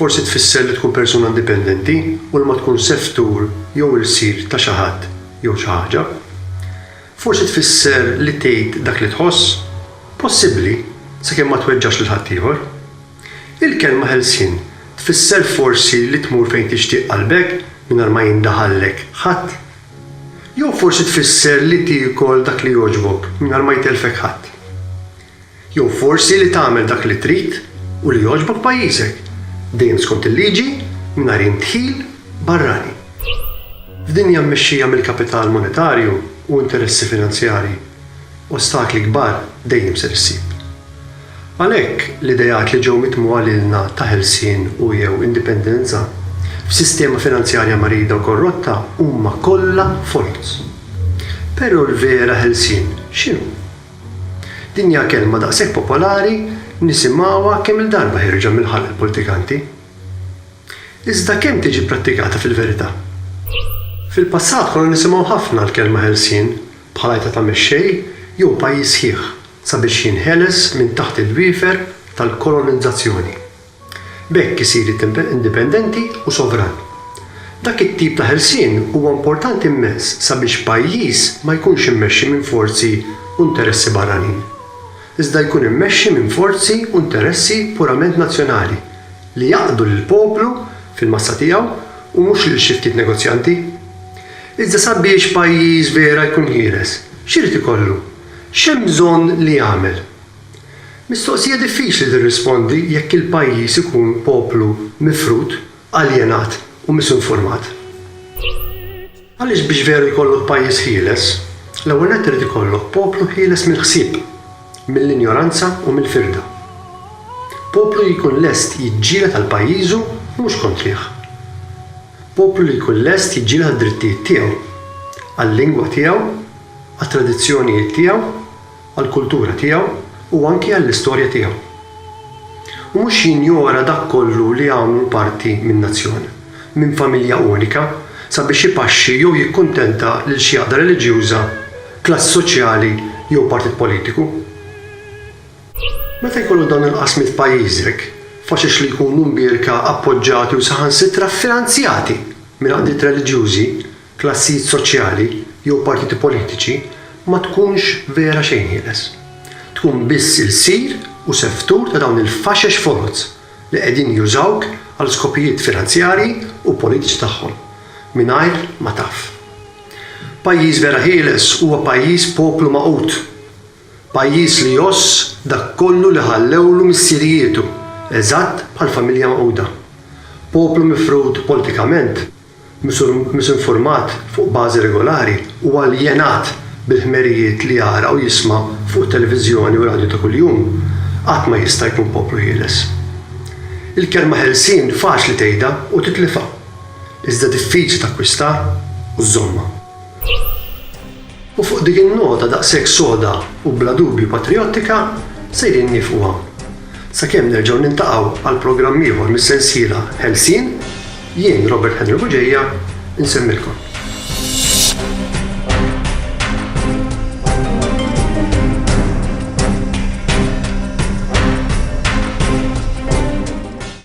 Forsi tfisser li tkun persuna indipendenti u li ma tkunx seftur jew ilsir ta' xi ħadd jew xi ħaġa. Forsi tfisser li tgħid dak li tħoss. Possibbli, sakemm ma tweġġax lil ħaddieħor. Il-kelma ħelsien tfisser forsi li tmur fejn tixtieq qalbek mingħajr ma jindaħallek ħadd. Jew forsi tfisser li tiekol dak li jogħġbok mingħajr ma jtellfek ħadd. Jew forsi li tagħmel dak li trid u li jogħġbok pajjiżek, dejjem skont il-liġi, mingħajr indħil barrani. F'dinja mmexxija mill-kapital monetarju u interessi finanzjarji, ostakli kbar dejjem ser issib. Għalhekk, l-ideat li ġew mitmugħa lilna ta' ħelsien u, jew indipendenza, f'sistema finanzjarja marida u korrotta huma kollha folz. Però l-vera ħelsien x'inhu? Din hija kelma daqshekk popolari nisimgħuha kemm-il darba ħierġa mill-ħalq il-politikanti. Iżda kemm tiġi pprattikata fil-verità? Fil-passat konna nisimgħu ħafna l-kelma ħelsien bħala għajta ta' mexxej jew pajjiż sħiħ sabiex jinħeles minn taħt il-wiefer tal-kolonizzazzjoni. B'hekk isir indipendenti u sovran. Dak it-tip ta' ħelsien huwa importanti immens sabiex pajjiż ma jkunx immexxi minn forzi u interessi barranin, iżda jkun immexxi minn forzi u interessi purament nazzjonali li jaqdu lill-poplu fil-massa tiegħu u mhux lil xi ftit negozjanti. Iżda sabiex pajjiż vera jkun ħieles, x'irid ikollu? X'hemm bżonn li jagħmel? Mistoqsija diffiċli tirrispondi jekk il-pajjiż ikun poplu mifrud, aljenat u misinformat. Għaliex biex veru jkollok pajjiż ħieles, l-ewwel nett irid ikollok poplu ħieles mill-ħsieb, mill-injoranza u mill-firda. Poplu li jkun lest jiġġieled għal pajjiżu u mhux kontrih. Poplu li jkun lest jiġġieled għad-drittijiet tiegħu, għal-lingwa tiegħu, għat-tradizzjonijiet tiegħu, għall-kultura tiegħu u anki għall-istorja tiegħu. U mhux jinjora dak kollu li jagħmlu parti minn nazzjon, minn familja unika, sabiex ipaxxi jew jikkuntenta lil xi għaqda reliġjuża, klass soċjali jew partit politiku. Meta jkollok dawn il-qasmiet f'pajjiżek, faċex li jkunu mbierka, appoġġati u saħansitra ffinanzjati minn għaqdiet reliġjużi. klassijiet soċjali jew partiti politiċi ma tkunx vera xejn ħieles. Tkun biss ilsir u seftur ta' dawn il-faxex foloz li qegħdin jużawk għal skopijiet finanzjarji u politiċi tagħhom mingħajr ma taf. Pajjiż vera ħieles huwa pajjiż poplu magħqud. Pajjiż li jgħożż dak kollu li ħallewlu missierijietu, eżatt bħall-familja magħquda. Poplu mifrud politikament. misinformat fuq bażi regolari u aljenat bil-ħmerijiet li jara u jisma' fuq it-televiżjoni u r-radju ta' kuljum, qatt ma jista' jkun poplu ħieles. Il-kelma ħelsien faċli tgħidha u titlifha, iżda diffiċli takkwistar u żżommha. U fuq dik in-nota daqshekk soda u bla dubju patrijottika sejrin nieqfu hawn. Sakemm nerġgħu niltaqgħu għal programm ieħor mis-sensiela Ħelsien, jien Robert Henry Buġeja nsemmilkom.